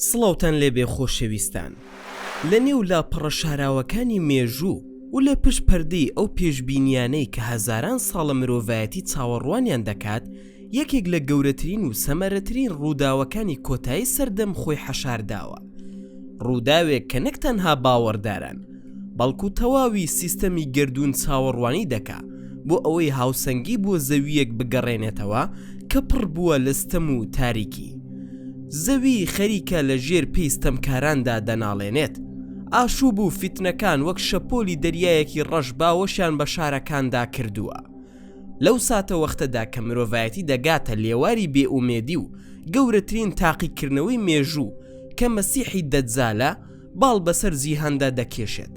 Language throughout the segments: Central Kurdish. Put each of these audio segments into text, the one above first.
سڵاوتان لێبێ خۆشەویستان لە نێو لاپەڕە شاراوەکانی مێژوو و لە پشت پەردەی ئەو پێشبینیانەی کە هەزاران ساڵە مرۆڤایەتی چاوەڕوانیان دەکات یەکێک لە گەورەترین و سەمەرەترین ڕووداوەکانی کۆتایی سەردەم خۆی حەشار داوە. ڕووداوێک کە نەک تەنها باوەڕداران، بەڵکو تەواوی سیستەمی گەردوون چاوەڕوانی دەکا بۆ ئەوەی هاوسەنگی بۆ زەوییەک بگەڕێنێتەوە کە پڕ بووە لە ستەم و تاریکی. زەوی خەریکە لە ژێر پێی ستەمکاراندا دەناڵێنێت. ئاشووب و فیتنەکان وەک شەپۆلی دەریایەکی ڕەش باوەشیان بە شارەکاندا کردووە. لەو ساتەوەختەدا کە مرۆڤایەتی دەگاتە لێواری بێ ئومێدی و گەورەترین تاقیکردنەوەی مێژوو کە مەسیحی دەجالە باڵ بەسەر جیهاندا دەکێشێت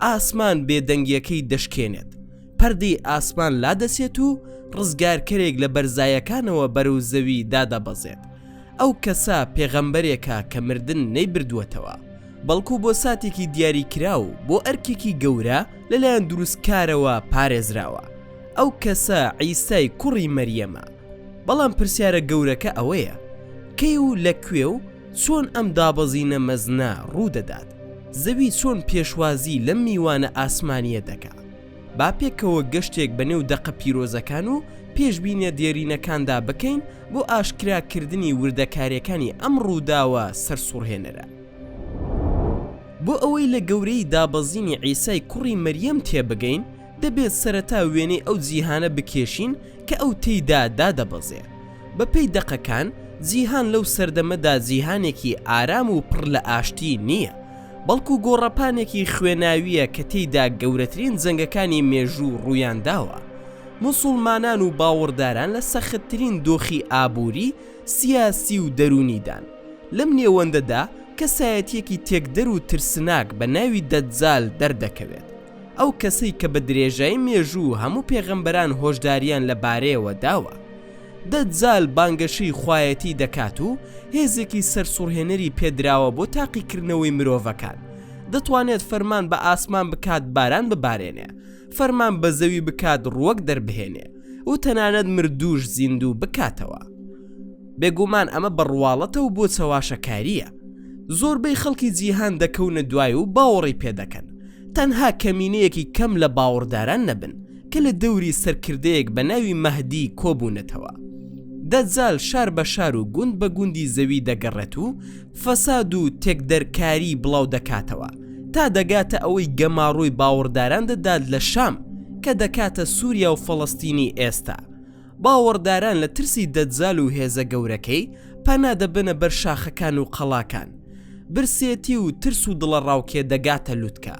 ئاسمان بێدەنگیەکەی دەشکێنێت پەردەی ئاسمان لادەچێت و ڕزگارکەرێک لە بەرزایەکانەوە بەرەو زەوی دادەبەزێت ئەو کەسە پێغەمبەرێکە کە مردن نەیبردووەتەوە بەڵکو بۆ ساتێکی دیاری کراو بۆ ئەرکێکی گەورە لەلایەن دروستکارەوە پارێزراوە ئەو کەسە عیسای کوڕی مەریەمە بەڵام پرسیارە گەورەکە ئەوەیە کەی و لە کوێ و چۆن ئەم دابەزینە مەزنە ڕوودەدات زەوی چۆن پێشوازی لەم میوانە ئاسمانیە دەکا با پێکەوە گەشتێک بە نێو دەقە پیرۆزەکان و پێشبینیە دێرینەکاندا بکەین بۆ ئاشکراکردنی وردەکاریەکانی ئەم ڕووداوە سەرسوڕهێنەرە. بۆ ئەوەی لە گەورەیی دابەزینی عیسای کوڕی مەریەم تێبگەین، دەبێت سەرەتا وێنەی ئەو جیهانە بکێشین کە ئەو تێیدا دادەبەزێ. بەپێی دەقەکان، جیهان لەو سەردەمەدا جیهانێکی ئارام و پڕ لە ئاشتی نییە، بەڵکو گۆڕەپانێکی خوێناوییە کە تێیدا گەورەترین جەنگەکانی مێژوو ڕوویان داوە. موسوڵمانان و باوەڕداران لە سەختترین دۆخی ئابووری، سیاسی و دەروونیدان. لەم نێوەندەدا کەسایەتیەکی تێکدەر و ترسناک بە ناوی دەجال دەردەکەوێت، ئەو کەسەی کە بە درێژای مێژوو هەموو پێغەمبەران هۆشداریان لە بارەیەوە داوە. دەجال بانگەشەی خوایەتی دەکات و هێزێکی سەرسوڕهێنەری پێدراوە بۆ تاقیکردنەوەی مرۆڤەکان، دەتوانێت فەرمان بە ئاسمان بکات باران ببارێنێ، فەرمان بە زەوی بکات ڕووەک دەربهێنێ و تەنانەت مردووش زیندوو بکاتەوە. بێگومان ئەمە بە ڕواڵەتە و بۆ چەواشەکارییە. زۆربەی خەڵکی جیهان دەکەونە دوای و باوەڕی پێ دەکەن. تەنها کەمینەیەکی کەم لە باوەڕداران نەبن کە لە دەوری سەرکردەیەک بە ناوی مەهدی کۆبوونەتەوە. دەجال شار بە شار و گوند بە گوندی زەوی دەگەڕێت و فەساد و تێکدەرکاری بڵاو دەکاتەوە تا دەگاتە ئەوەی گەماڕۆی باوەڕداران دەدات لە شام کە دەکاتە سوریا و فەڵەستینی ئێستا. باوەڕداران لە ترسی دەجال و هێزە گەورەکەی پەنا دەبەنە بەر شاخەکان و قەڵاکان. برسێتی و ترس و دڵەڕاوکێ دەگاتە لوتکە.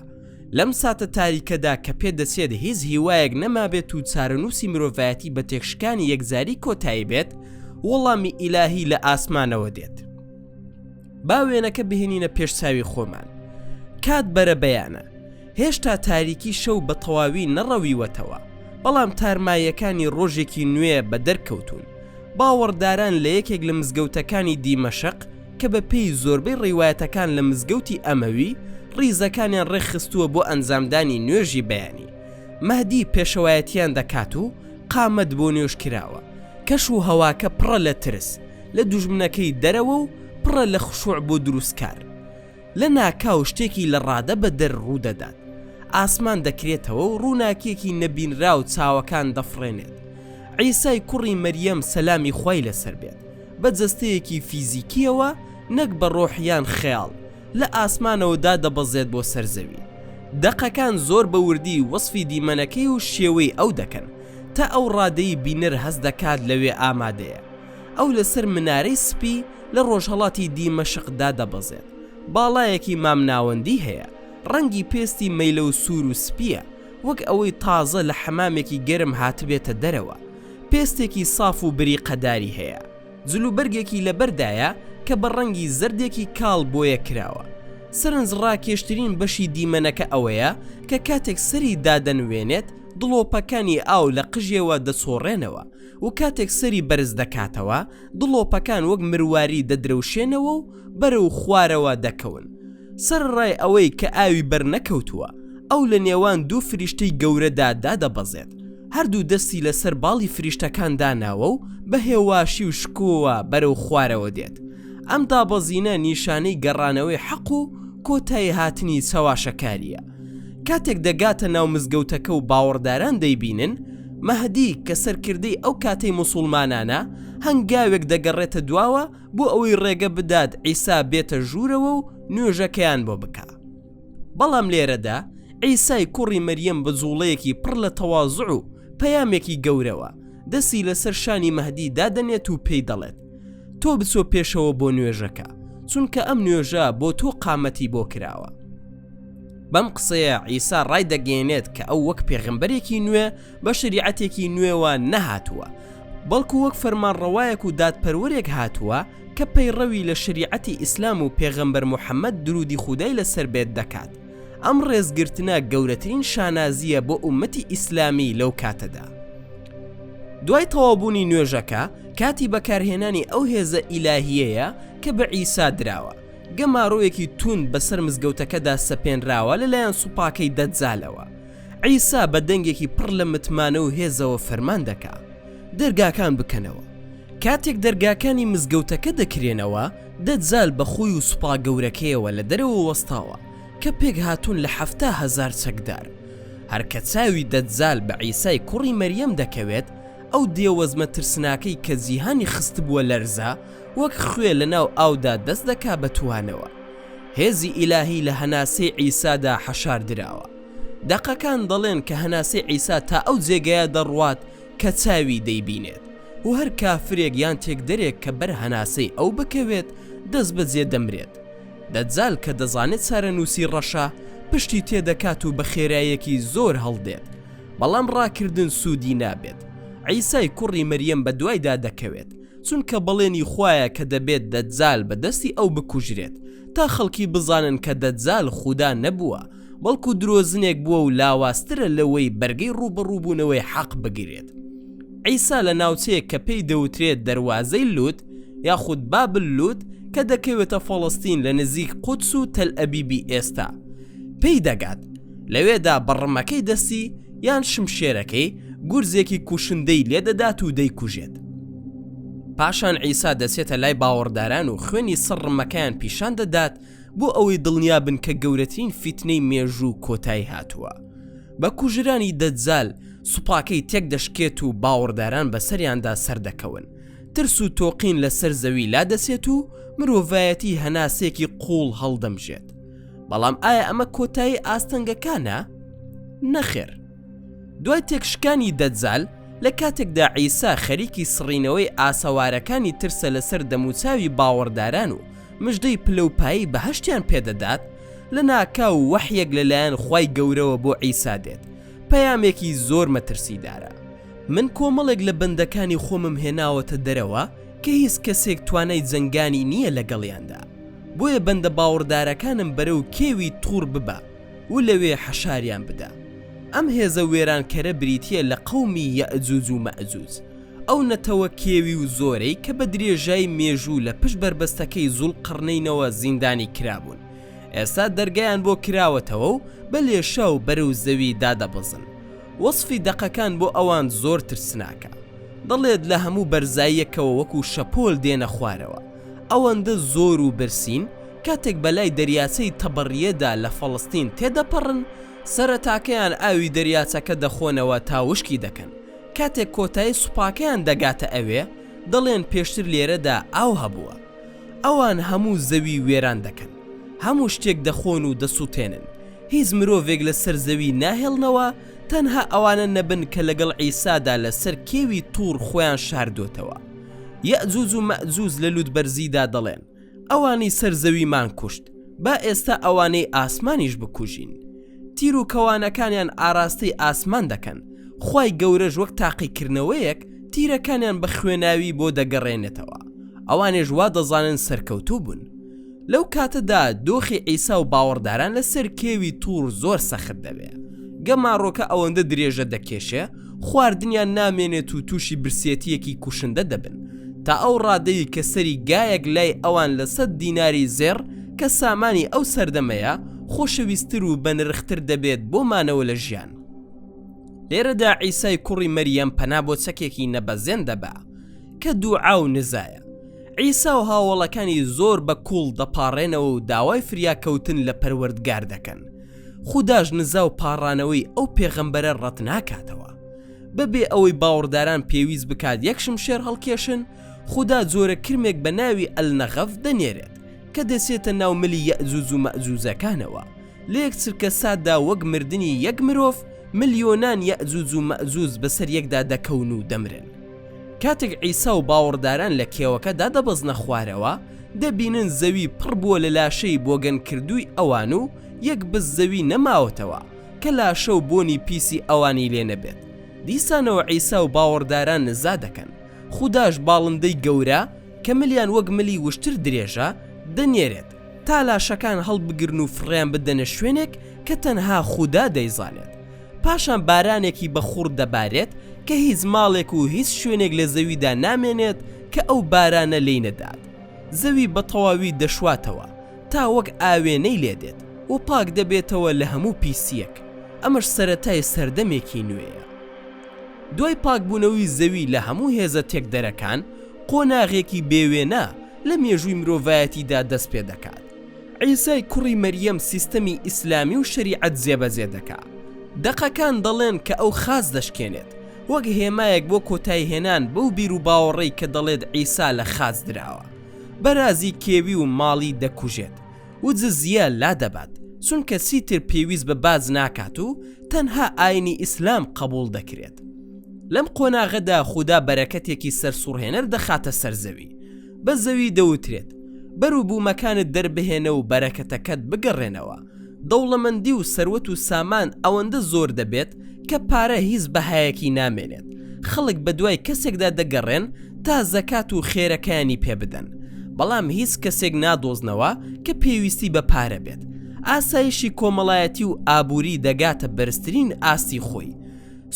لەم ساتە تاریکەدا کە پێ دەچێت هیچ هیوایەک نەمابێت و چارەنووسی مرۆڤایەتی بە تێکشکانی یەکجاری کۆتایی بێت، وەڵامی ئیلاهی لە ئاسمانەوە دێت. با وێنەکە بهێنینە پێش چاوی خۆمان کات بەرە بەیانە هێشتا تاریکی شەو بە تەواوی نەڕەویوەتەوە بەڵام تارماییەکانی ڕۆژێکی نوێ بە دەرکەوتون باوەڕداران لە یەکێک لە مزگەوتەکانی دیمەشق کە بە پێی زۆربەی ڕیواەتەکان لە مزگەوتی ئەمەوی ڕیزەکانیان ڕێکخستووە بۆ ئەنجامدانی نوێژی بەیانی مەدی پێشەوایەتیان دەکات و قامەت بۆ نوێش کراوە کەش و هەواکە پڕە لە ترس لە دوژمنەکەی دەرەوە و پڕە لە خشوع بۆ دروستکار. لە ناکاو شتێکی لە ڕادە بە دەر ڕوودەدات. ئاسمان دەکرێتەوە و ڕووناکیەکی نەبینراو چاوەکان دەفڕێنێت. عیسای کوڕی مەریەم سەلامی خوای لەسەر بێت بە جەستەیەکی فیزیکیەوە نەک بە ڕۆح یان خەیاڵ لە ئاسمانەوە دادەبەزێت بۆ سەر زەوی. دەقەکان زۆر بە وردی وەسفی دیمەنەکەی و شێوەی ئەو دەکەن تا ئەو ڕادەی بینەر هەست دەکات لەوێ ئامادەیە. ئەو لەسەر منارەی سپی لە ڕۆژهەڵاتی دیمەشقدا دەبەزێت، باڵایەکی مامناوەندی هەیە، ڕەنگی پێستی مەیلەو سوور و سپییە، وەک ئەوەی تازە لە حەمامێکی گەرم هاتبێتە دەرەوە، پێستێکی ساف و بریقەداری هەیە، جلوبەرگێکی لەبەردایە کە بە ڕەنگی زەردێکی کاڵ بۆیە کراوە. سەرنجڕاکێشترین بەشی دیمەنەکە ئەوەیە کە کاتێک سەری دادەنوێنێت، دڵۆپەکانی ئاو لە قژێوە دەچۆڕێنەوە، و کاتێک سەری بەرز دەکاتەوە دڵۆپەکان وەک مرواری دەدرەوشێنەوە و بەرەو خوارەوە دەکەون سەرەڕای ئەوەی کە ئاوی بەرنەکەوتووە ئەو لە نێوان دوو فریشتەی گەورەدا دادەبەزێت هەردوو دەستی لەسەر باڵی فریشتەکان داناوە و بە هێواشی و شکۆوە بەرەو خوارەوە دێت ئەم دابەزینە نیشانەی گەڕانەوەی حەق و کۆتاییهاتنی چەواشەکارییە. کاتێک دەگاتە ناو مزگەوتەکە و باوەڕداران دەیبینن، مەهدی کە سەرکردەی ئەو کاتەی موسوڵمانانە، هەنگاوێک دەگەڕێتە دواوە بۆ ئەوەی ڕێگە بدات عیسا بێتە ژوورەوە و نوێژەکەیان بۆ بکا. بەڵام لێرەدا عیسای کوڕی مەریەم بە جووڵەیەکی پڕ لە تەوازوع و پەیامێکی گەورەوە، دەستی لەسەر شانی مەهدی دادەنێت و پێی دەڵێت، تۆ بچۆ پێشەوە بۆ نوێژەکە، چونکە ئەم نوێژە بۆ تۆ قامەتی بۆ کراوە. بەم قسەیە عیسا ڕای دەگەێنێت کە ئەو وەک پێغمبەرێکی نوێ بە شریعەتێکی نوێوە نەهاتووە بەڵکو وەک فەرمانڕەوایەک و دادپەروەرێک هاتووە کە پەیڕەوی لە شریعەتی ئیسلام و پێغەمبەر محەممەد درودی خودای لەسەر بێت دەکات ئەم ڕێزگرتنە گەورەترین شانازیە بۆ ئومەتی ئیسلامی لەو کاتەدا دوای تەوابوونی نوێژەکە کاتی بەکارهێنانی ئەو هێزە ئیلاهیەیە کە بە عیسا دراوە گەمارۆیەکی توند بەسەر مزگەوتەکەدا سەپێنراوە لەلایەن سوپاکەی دەجالەوە. عیسا بە دەنگێکی پڕ لە متمانە و هێزەوە فەرمان دەکا، دەرگاکان بکەنەوە. کاتێک دەرگاکانی مزگەوتەکە دەکرێنەوە، دەجال بە خۆی و سوپا گەورەکەیەوە لە دەرەوە وەستاوە، کە پێکهاتوون لە حەفتا هەزار چەکدار. هەر کە چاوی دەجال بە عیسای کوڕی مەریەم دەکەوێت، ئەو دێوەزمە ترسناکەی کە جیهانی خستبووە لەرزە، وەک خوێ لەناو ئاودا دەست دەکا بە توانەوە. هێزی ئیلاهی لە هەناسەی عیسادا حەشار دراوە. دەقەکان دەڵێن کە هەناسەی عیسا تا ئەو جێگایە دەڕوات کە چاوی دەیبینێت و هەر کافرێک یان تێکدەرێک کە بەر هەناسەی ئەو بکەوێت دەستبەجێ دەمرێت. دەجال کە دەزانێت چارەنووسی ڕەشە پشتی تێ دەکات و بە خێرایەکی زۆر هەڵدێت. بەڵام ڕاکردن سوودی نابێت. عیسای کوڕی مەریەم بە دوایدا دەکەوێت. چونکە بەڵێنی خوایە کە دەبێت دەجال بە دەستی ئەو بکوژرێت تا خەڵکی بزانن کە دەجال خودا نەبووە بەڵکو درۆزنێک بووە و لاوازترە لەوەی بەرگەی ڕووبەڕووبوونەوەی حەق بگرێت عیسا لە ناوچەیەک کە پێی دەوترێت دەروازەی لوت یاخود بابل لوت کە دەکەوێتە فەڵەستین لە نزیک قودس و تەل ئەبیبی ئێستا پێی دەگات لەوێدا بەڕمەکەی دەستی یان شمشێرەکەی گورزێکی کوشندەی لێ دەدات و دەیکوژێت. پاشان عیسا دەچێتە لای باوەڕداران و خوێنی سڕمەکەیان پیشان دەدات بۆ ئەوەی دڵنیا بن کە گەورەترین فیتنەی مێژوو کۆتایی هاتووە. بە کوژرانی دەجال سوپاکەی تێک دەشکێت و باوەڕداران بەسەریاندا سەردەکەون. ترس و تۆقین لەسەر زەوی لادەچێت و مرۆڤایەتی هەناسەیەکی قووڵ هەڵدەمژێت. بەڵام ئایا ئەمە کۆتایی ئاستەنگەکانە؟ نەخێر دوای تێکشکانی دەجال لە کاتێکدا عیسا خەریکی سڕینەوەی ئاسەوارەکانی ترسە لەسەر دەموچاوی باوەڕداران و مژدەی پلەپایی بە هەشتیان پێدەدات لە ناکا و وەحیەک لەلایەن خی گەورەوە بۆ عیسا دێت پەیامێکی زۆر مەترسیدارە من کۆمەڵێک لە بەندەکانی خۆمم هێناوەتە دەرەوە کە هیچ کەسێک توانای جەنگانی نییە لەگەڵیاندا بۆیە بەندە باوڕدارەکانم بەرەو کێوی توڕ ببە و لەوێ حەشاریان بدە. ئەم هێزە وێرانکەرە بریتییە لە قەومی یەئجوج و مەئجوج، ئەو نەتەوە کێوی و زۆرەی کە بە درێژای مێژوو لە پشت بەربەستەکەی زوڵقەڕنەینەوە زیندانی کرابوون، ئێستا دەرگایان بۆ کراوەتەوە و بە لێشاو بەرەو زەوی دادەبەزن. وەسفی دەقەکان بۆ ئەوان زۆر ترسناکە. دەڵێت لە هەموو بەرزاییەکەوە وەکو شەپۆل دێنە خوارەوە. ئەوەندە زۆر و برسین، کاتێک بەلای دەریاچەی تەبریەدا لە فەڵەستین تێدەپەڕن، سەرەتاکەیان ئاوی دەریاچەکە دەخۆنەوە تا وشکی دەکەن، کاتێک کۆتایی سوپاکەیان دەگاتە ئەوێ، دەڵێن پێشتر لێرەدا ئاو هەبووە. ئەوان هەموو زەوی وێران دەکەن. هەموو شتێک دەخۆن و دەسوتێنن. هیچ مرۆڤێک لەسەر زەوی ناهێڵنەوە، تەنها ئەوانە نەبن کە لەگەڵ عیسادا لەسەر کێوی توڕ خۆیان شاردۆتەوە. یەئجوج و مەئجوج لە لووتبەرزیدا دەڵێن، ئەوانەی سەر زەویمان کوشت، با ئێستا ئەوانەی ئاسمانیش بکوژین. تیر و کەوانەکانیان ئاراستەی ئاسمان دەکەن، خوای گەورەش وەک تاقیکردنەوەیەک تیرەکانیان بە خوێناوی بۆ دەگەڕێنێتەوە، ئەوانێش وا دەزانن سەرکەوتوو بوون. لەو کاتەدا دۆخی عیسا و باوەڕداران لەسەر کێوی تووڕ زۆر سەخت دەبێ. گەماڕۆکە ئەوەندە درێژە دەکێشێ، خواردنیان نامێنێت و تووشی برسێتییەکی کوشندە دەبن، تا ئەو ڕادەی کە سەری گایەک لای ئەوان لە سەد دیناری زێڕ کە سامانی ئەو سەردەمەیە، خۆشەویستتر و بەنرختر دەبێت بۆ مانەوە لە ژیان. لێرەدا عیسای کوڕی مەریەم پەنا بۆ چەکێکی نەبەزێن دەبا، کە دوعا و نزایە. عیسا و هاوەڵەکانی زۆر بە کوڵ دەپاڕێنەوە و داوای فریاکەوتن لە پەروەردگار دەکەن. خوداش نزا و پاڕانەوەی ئەو پێغەمبەرە ڕەتناکاتەوە. بەبێ ئەوەی باوڕداران پێویست بکات یەک شمشێر هەڵکێشن، خودا جۆرە کرمێک بە ناوی النغف دەنێرێت کە دەچێتە ناو ملی یەئجوج و مەئجوجەکانەوە، لە یەک چرکە ساتدا وەک مردنی یەک مرۆڤ ملیۆنان یەئجوج و مەئجوج بەسەر یەکدا دەکەون و دەمرن. کاتێک عیسا و باوەڕداران لە کێوەکە دادەبەزنە خوارەوە، دەبینن زەوی پڕ بووە لە لاشەی بۆگەنکردووی ئەوان و یەک بست زەوی نەماوەتەوە کە لاشە و بۆنی پیسی ئەوانی لێ نەبێت. دیسانەوە عیسا و باوەڕداران نزا دەکەن. خوداش باڵندەی گەورە، کە ملیان وەک ملی وشتر درێژە، دەنێرێت. تا لاشەکان هەڵبگرن و فڕێیان بدەنە شوێنێک کە تەنها خودا دەیزانێت پاشان بارانێکی بە خوڕ دەبارێت کە هیچ ماڵێک و هیچ شوێنێک لە زەویدا نامێنێت کە ئەو بارانە لێی نەدات زەوی بە تەواوی دەشواتەوە تا وەک ئاوێنەی لێ دێت و پاک دەبێتەوە لە هەموو پیسییەک ئەمەش سەرەتای سەردەمێکی نوێیە دوای پاکبوونەوەی زەوی لە هەموو هێزە تێکدەرەکان قۆناغێکی بێ وێنە لە مێژووی مرۆڤایەتیدا دەست پێ دەکات. عیسای کوڕی مەریەم سیستەمی ئیسلامی و شەریعەت جێبەجێ دەکا. دەقەکان دەڵێن کە ئەو خاچ دەشکێنێت، وەک هێمایەک بۆ کۆتاییهێنان بەو بیروباوەڕەی کە دەڵێت عیسا لە خاچ دراوە. بەرازی کێوی و ماڵی دەکوژێت و جزیە لادەبات، چونکە چیتر پێویست بە باج ناکات و تەنها ئاینی ئیسلام قەبووڵ دەکرێت. لەم قۆناغەدا خودا بەرەکەتێکی سەرسوڕهێنەر دەخاتە سەر زەوی. بە زەوی دەوترێت بەرو بومەکانت دەربهێنە و بەرەکەتەکەت بگەڕێنەوە، دەوڵەمەندی و سەروەت و سامان ئەوەندە زۆر دەبێت کە پارە هیچ بەهایەکی نامێنێت، خەڵک بەدوای کەسێکدا دەگەڕێن تا زەکات و خێرەکەیانی پێ بدەن، بەڵام هیچ کەسێک نادۆزنەوە کە پێویستی بە پارە بێت، ئاسایشی کۆمەڵایەتی و ئابوری دەگاتە بەرزترین ئاستی خۆی،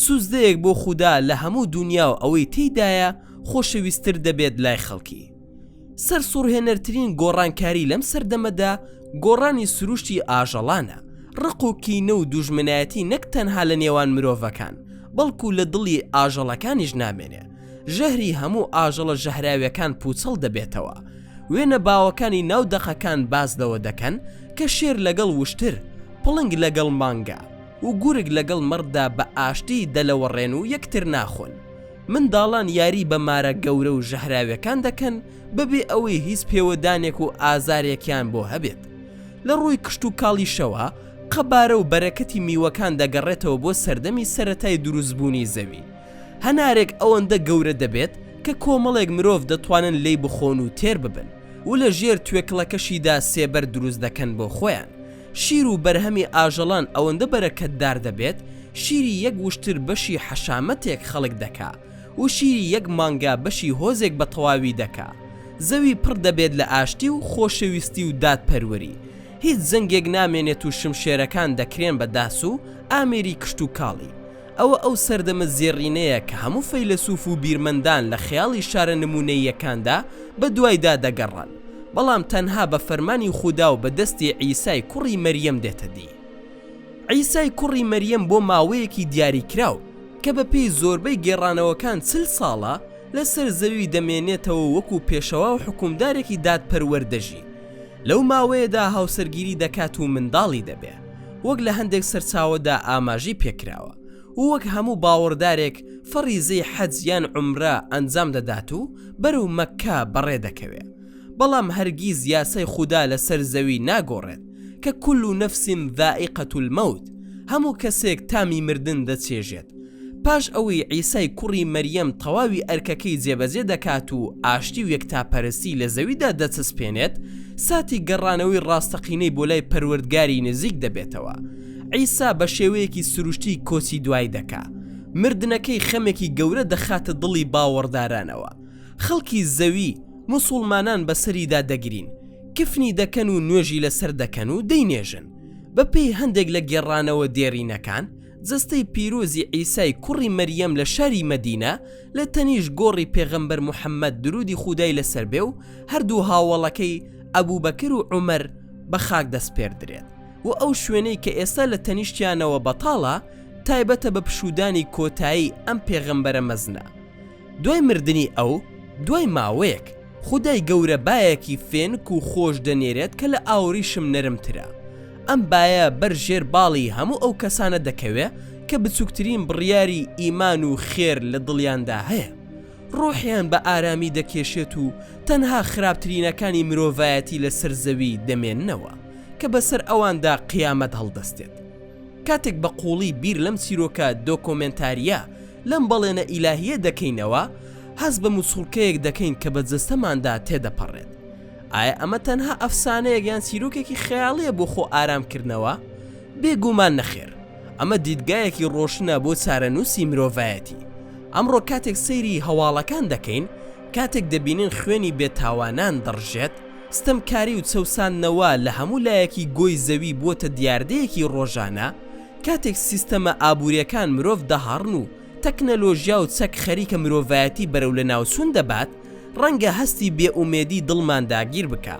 سوجدەیەک بۆ خودا لە هەموو دونیا و ئەوەی تێیدایە، خۆشەویستتر دەبێت لای خەڵکی. سەرسوڕهێنەرترین گۆڕانکاری لەم سەردەمەدا گۆڕانی سروشتی ئاژەڵانە، ڕق و کینە و دوژمنایەتی نەک تەنها لە نێوان مرۆڤەکان، بەڵکو لە دڵی ئاژەڵەکانیش نامێنێ، ژەهری هەموو ئاژەڵە ژەهراویەکان پوچەڵ دەبێتەوە. وێنە باوەکانی ناو دەقەکان باس لەوە دەکەن کە شێر لەگەڵ وشتر، پڵنگ لەگەڵ مانگا و گورگ لەگەڵ مەڕدا بە ئاشتی دەلەوەڕێن و یەکتر ناخۆن. منداڵان یاری بە مارە گەورە و ژەهراویەکان دەکەن بەبێ ئەوەی هیچ پێوەدانێک و ئازارێکیان بۆ هەبێت. لە ڕووی کشتوکاڵیشەوە، قەبارە و بەرەکەتی میوەکان دەگەڕێتەوە بۆ سەردەمی سەرەتای دروستبوونی زەوی. هەنارێک ئەوەندە گەورە دەبێت کە کۆمەڵێک مرۆڤ دەتوانن لێی بخۆن و تێر ببن و لە ژێر توێکڵەکەشیدا سێبەر دروست دەکەن بۆ خۆیان. شیر و بەرهەمی ئاژەڵان ئەوەندە بەرەکەتدار دەبێت، شیری یەک وشتر بەشی حەشامەتێک خەڵک دەکا و شیری یەک مانگا بەشی هۆزێک بە تەواوی دەکا. زەوی پڕ دەبێت لە ئاشتی و خۆشەویستی و دادپەروەری. هیچ جەنگێک نامێنێت و شمشێرەکان دەکرێن بە داس و ئامێری کشتوکاڵی. ئەوە ئەو سەردەمە زێڕینەیە کە هەموو فەیلەسوف و بیرمەندان لە خەیاڵی شارە نموونەییەکاندا بە دوایدا دەگەڕان، بەڵام تەنها بە فەرمانی خودا و بە دەستی عیسای کوڕی مەریەم دێتە دی. عیسای کوڕی مەریەم بۆ ماوەیەکی دیاریکراو، کە بە پێی زۆربەی گێڕانەوەکان چل ساڵە، لەسەر زەوی دەمێنێتەوە و وەکوو پێشەوا و حوکمدارێکی دادپەروەر دەژی، لەو ماوەیەدا هاوسەرگیری دەکات و منداڵی دەبێ، وەک لە هەندێک سەرچاوەدا ئاماژەی پێکراوە و وەک هەموو باوەڕدارێک فەڕیزەی حەج یان عومرە ئەنجام دەدات و بەرەو مەککە بەڕێ دەکەوێ، بەڵام هەرگیز یاسای خودا لەسەر زەوی ناگۆڕێت کە کل نفس ذائقە الموت هەموو کەسێک تامی مردن دەچێژێت، پاش ئەوەی عیسای کوڕی مەریەم تەواوی ئەرکەکەی جێبەجێ دەکات و ئاشتی و یەکتاپەرستی لە زەویدا دەچەسپێنێت، ساتی گەڕانەوەی ڕاستەقینەی بۆ لای پەروەردگاری نزیک دەبێتەوە. عیسا بە شێوەیەکی سروشتی کۆچی دوای دەکا. مردنەکەی خەمێکی گەورە دەخاتە دڵی باوەڕدارانەوە. خەڵکی زەوی، موسوڵمانان بە سەریدا دەگرین، کفنی دەکەن و نوێژی لەسەر دەکەن و دەینێژن. بەپێی هەندێک لە گێڕانەوە دێرینەکان، جەستەی پیرۆزی عیسای کوڕی مەریەم لە شاری مەدینە لە تەنیشت گۆڕی پێغەمبەر محەممەد درودی خودای لەسەر بێ و هەردوو هاوەڵەکەی ئەبوبەکر و عومەر بە خاک دەسپێردرێت و ئەو شوێنەی کە ئێستا لە تەنیشتیانەوە بەتاڵە تایبەتە بە پشوودانی کۆتایی ئەم پێغەمبەرە مەزنە دوای مردنی ئەو، دوای ماوەیەک، خودای گەورە بایەکی فێنک و خۆش دەنێرێت کە لە ئاوریشم نەرمترە. ئەم بایە بەر ژێر باڵی هەموو ئەو کەسانە دەکەوێ کە بچووکترین بڕیاری ئیمان و خێر لە دڵیاندا هەیە. ڕۆحیان بە ئارامی دەکێشێت و تەنها خراپترینەکانی مرۆڤایەتی لەسەر زەوی دەمێننەوە کە بەسەر ئەواندا قیامەت هەڵدەستێت. کاتێک بە قووڵی بیر لەم چیرۆکە دۆکۆمێنتارییە لەم بەڵێنە ئیلاهییە دەکەینەوە، هەست بە موچوڵکەیەک دەکەین کە بە جەستەماندا تێدەپەڕێت. ئایا ئەمە تەنها ئەفسانەیەک یان چیرۆکێکی خەیاڵییە بۆ خۆ ئارامکردنەوە؟ بێگومان نەخێر، ئەمە دیدگایەکی ڕۆشنە بۆ چارەنووسی مرۆڤایەتی. ئەمڕۆ کاتێک سەیری هەواڵەکان دەکەین، کاتێک دەبینین خوێنی بێتاوانان دەڕژێت، ستەمکاری و چەوساندنەوە لە هەموو لایەکی گۆی زەوی بووەتە دیاردەیەکی ڕۆژانە، کاتێک سیستەمە ئابووریەکان مرۆڤ دەهاڕن و تەکنەلۆژیا و چەک خەریکە مرۆڤایەتی بەرەو لەناوچوون دەبات، ڕەنگە هەستی بێ ئومێدی دڵمان داگیر بکا.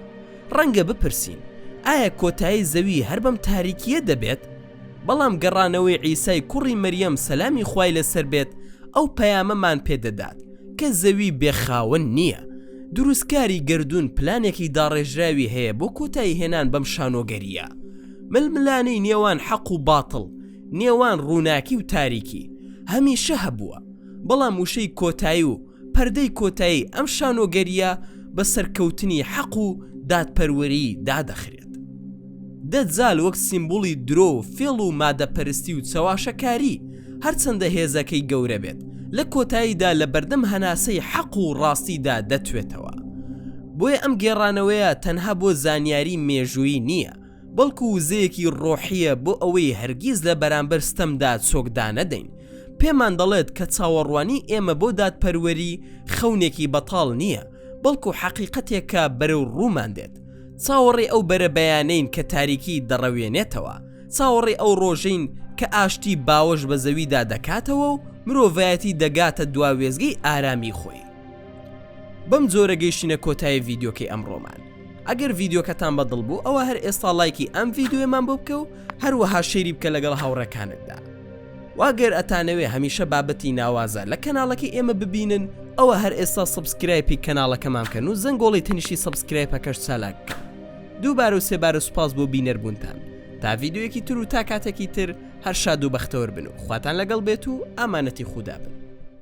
ڕەنگە بپرسین، ئایا کۆتایی زەوی هەر بەم تاریکییە دەبێت؟ بەڵام گەڕانەوەی عیسای کوڕی مەریەم سەلامی خوای لەسەر بێت ئەو پەیامەمان پێ دەدات کە زەوی بێ خاوەن نییە. دروستکاری گەردوون پلانێکی داڕێژراوی هەیە بۆ کۆتایی هێنان بەم شانۆگەرییە. ململانێی نێوان حەق و باتڵ، نێوان ڕووناکی و تاریکی هەمیشە هەبووە، بەڵام وشەی کۆتایی و پەردەی کۆتایی ئەم شانۆگەرییە بە سەرکەوتنی حەق و دادپەروەری دادەخرێت. دەجال وەک سیمبوڵی درۆ و فێڵ و مادەپەرستی و چەواشەکاری هەرچەندە هێزەکەی گەورە بێت لە کۆتاییدا لە بەردەم هەناسەی حەق و ڕاستیدا دەتوێتەوە. بۆیە ئەم گێڕانەوەیە تەنها بۆ زانیاری مێژوویی نییە، بەڵکو وزەیەکی ڕۆحییە بۆ ئەوەی هەرگیز لە بەرامبەر ستەمدا چۆک دانەدەین، پێمان دەڵێت کە چاوەڕوانی ئێمە بۆ دادپەروەری خەونێکی بەتاڵ نییە، بەڵکو حەقیقەتێکە بەرەو ڕوومان دێت. چاوەڕێی ئەو بەرەبەیانەین کە تاریکی دەڕەوێنێتەوە، چاوەڕێی ئەو ڕۆژەین کە ئاشتی باوەش بە زەویدا دەکاتەوە و مرۆڤایەتی دەگاتە دوا وێستگەی ئارامی خۆی. بەم جۆرە گەیشتینە کۆتایی ڤیدیۆکەی ئەمڕۆمان ئەگەر ڤیدیۆکەتان بەدڵ بوو ئەوە هەر ئێستا لایکی ئەم ڤیددیوێمان بۆ بکە و هەروەها شێری بکە لەگەڵ هاوڕەکانتدا واگەر ئەتانەوێ هەمیشە بابەتی ناوازە لە کەناڵەکەی ئێمە ببینن ئەوە هەر ئێستا سبسکرایپی کەناڵەکەمان بکەن و زەنگۆڵی تەنیشتی سبسکرایپەکەش چالاک بکەن دووبارە و سێبارە سوپاس بۆ بینەربوونتان تا ڤیددیوەکی تر و تا کاتێکی تر هەر شاد و بەختەوەر بن و خواتان لەگەڵ بێت و ئامانەتی خودا بن